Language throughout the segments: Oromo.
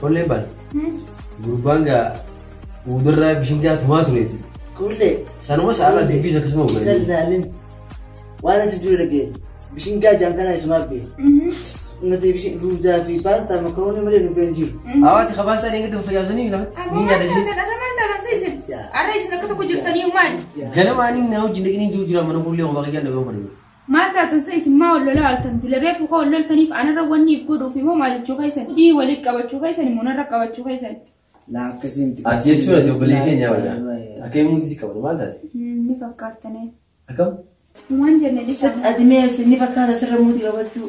Kolleen baate. Gurbaan gaa uudarraa bishingaa tumaa tureeti. Kuullee. Sanuma sa'aala dubbiis akkasuma Isa hubatan. ilaalin. Waan asi dura dhagee. Bishingaa jaankanaa isumaaf bee. Nuti bishin ruuzaa fi paastaa makaroonii malee nu been jiru. Hawaati kabaasaan eegatti fayyaansanii lafa ni nyaata jiru. Arra isin akka tokko jirtanii maali? Ganamaan inni na wajjin dhaqanii jiru jira mana kuullee kophaa kiyyaa dhaga'uu barbaadu. Maal taatan sa isin maa wal lolaa ooltan dila reefu koo wal loltaniif anarra wanni if godhuufi moo maa jechuu keessan dhii waliif qabachuu keessan moo narra qabachuu keessan Laa akkasii miti. Ati jechuun ati obboleeyyi keenya wayya. Akka himuun si qabdu maal taate? ni fakkaattane Akkam? waan jenne Sit dhisamu admees ni fakkaata sirra muuti qabachuu.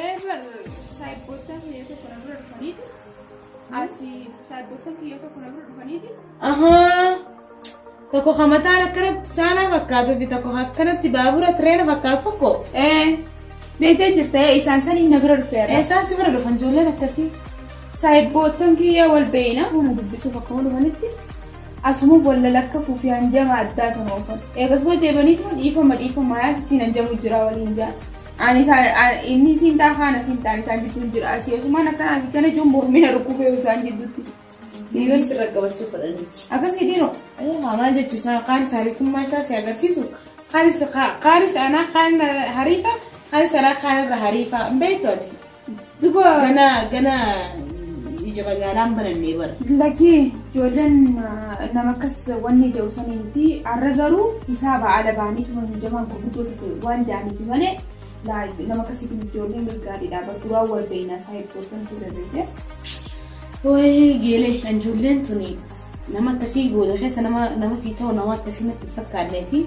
Eebar saayibboottan kiyya tokko na bira dhufaniiti. Asi saayibboottan kiyya tokko na bira dhufaniiti. Ahaa. Tokko kan mataan akkanatti saanaa fakkaatu fi tokko akkanatti baabura tireena fakkaatu tokko. Ee beektee jirta ee isaan saniin na bira dhufeera. Eessaan si bira dhufan ijoolleen akkasii? Saayibboottan kiyya wal beeyna mana dubbisuuf akkuma dhufanitti asuma walla lakka fuufi hanjama addaa kan oofan. Eegasuma deebaniituma dhiifama dhiifama yaa sittiin hanjamu jira waliin jaa. Ani inni siin ta'a haana siin ta'an isaan jidduun jira. Asii osumaan akkana asii kana ijoon mormina rukkubee isaan jidduutti. Siiroo sirra qabachuu fedhanitti. Akkasii dhiiroo. Maal jechuun sana qaanis hariifummaa isaa si agarsiisu. Qaanis anaa kaan hariifa qaanis anaa kaan irra hariifa beektu ati. Duba Gana gana ija magaalaan banannee bara. lakki ijoolleen ah, nama akkas wanni jedhu sanii miti har'a garuu hisaaba ala baanii tuman hundamaa gurguddoota waan jedhaniif malee laa- nama akkasiif ijoolleen gargaariidha bara duraa wal beeknaa isaa ijoolleen ture beekte. Wayii geelee kan ijoolleen tuni nama akkasii gooda keessa nama nama sii ta'u nama akkasii natti hin fakkaanneeti.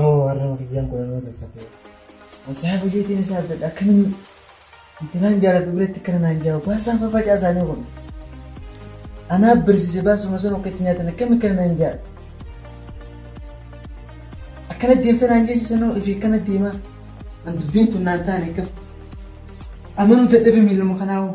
Oo arraba kiyyaan kun nama tolfatee. Ansaa bulleetiin isaa abdadha akkamiin intalaan jaaladhu biratti kana naan jaa'u baasaan fafacaa isaanii kun. Anaa barsiise baasuma sun akka itti nyaatan akkamiin kana naan jaa'a. Akkana deemta naan jeesisanoo fi akkana deemaa. An dubbiin tun naan taane akkam. Amanuu dadhabe miiluma kanaa hoo.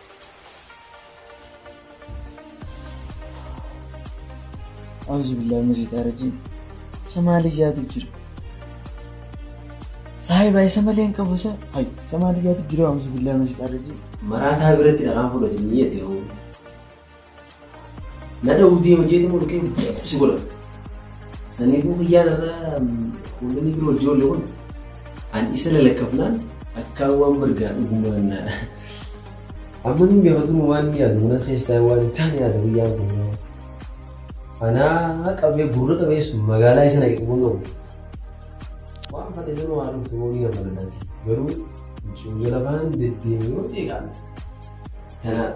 Auzu billahi min shaytaan rajiim. Samaaliyyaatu jira. Saahiba isa malee hin qabu isa. Hay Samaaliyyaatu jira auzu billahi min shaytaan rajiim. Maraataa biratti dhaqaan fudhatanii jette hoo. Nada hudii hojeeti moo dhukee si godha. Saniifuu guyyaa irraa kuulonni biroo ijoollee kun an isa lalakkafnaan akka waan bargaa dhugumaan na. Amma ni gaafatuun waan ni yaadu mana keessaa waan itti ani yaadu guyyaa kun. Anaa qabee gurra qabee sun magaalaa isa naqe qabuun qabu. Waan fate sun waan dhuftu moo ni gaafatu garuu ijoollee lafaan deddeemee yoo deegaan. Tanaaf.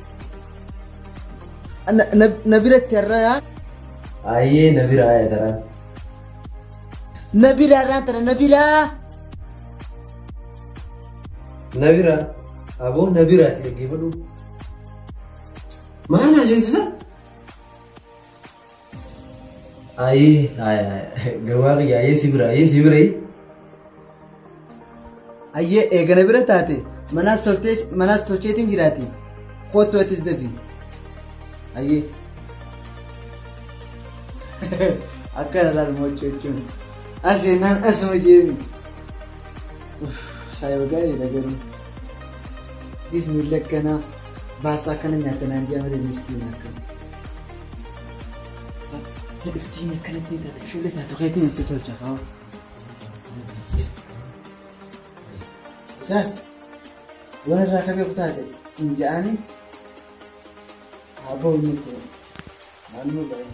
Na biratti har'aa. Ayyee na biraa yaadaraa. Na biraa har'aan tana na biraa. Na biraa. Aboo na biraati dhaggeeffadhu. Maal haasofsiisa? Ayii gawaa kiyya ayee si bira ayee si bira Ayyee eegana bira taate manaas toltee manaas tolcheetiin jiraati. Kootu atis dafi. Ayyee. Akkana laal mo'achuu jechuun. As jennaan asuma jeemi. Saayoo gaariidha garuu. If miila akkanaa baasaa akkana nyaata naan jedhama miskiina akkana. Dhuftiin akkanatti taate ijoollee taatu keetiin nutti tolcha kaa'u. Isaas waan irraa akka beeku taate hin ja'ani haa ba'u inni kun naannoo baay'ee.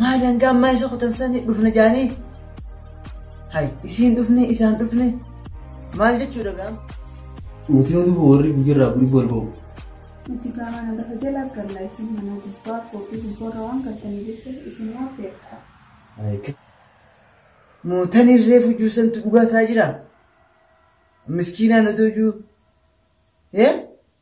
maal hangaa ammaa isa kutan sani dhufna jaanii hay isiin dhufne isaan dhufne maal jechuudha gaam nuti yoo duuba warri guyyarraa guri bol ba'u Nuti gaamana lafa jala galla isin mana gubbaa koofii gubbarra waan galtanii jecha isin waan feerta. mootan irree fujuu santu dhugaa taa jira miskiinaan odoo juu ee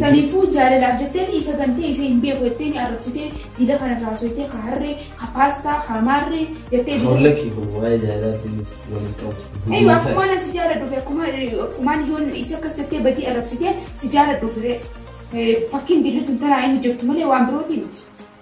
Saniifuu jaalalaaf jetteeti isa gantee isa hin beeku jetteeni arrabsitee dila kana raasoytee ka harree ka paastaa ka maarree jettee dila. Holla kee kun waa'ee jaalalaatiif waliin qabu. Eeyu akkumaan an si jaaladhuufi akkumaan akkumaan yoon isa akkas jettee badii arrabsitee si jaaladhuufi ree. Fakkiin dilli tun tanaa inni jirtu malee waan birootii miti.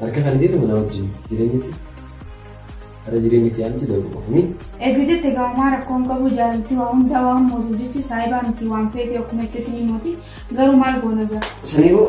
Harka kan jeetu manaa wajjin jireenyatti har'a jireenyatti aanti darbu qofni. Eega jette gaamaa rakkoon qabu jaalalti waa hundaa waan mootu jechi saayibaa miti waan feete akkuma itti ni mooti garuu maal goona gara. Sanii boo.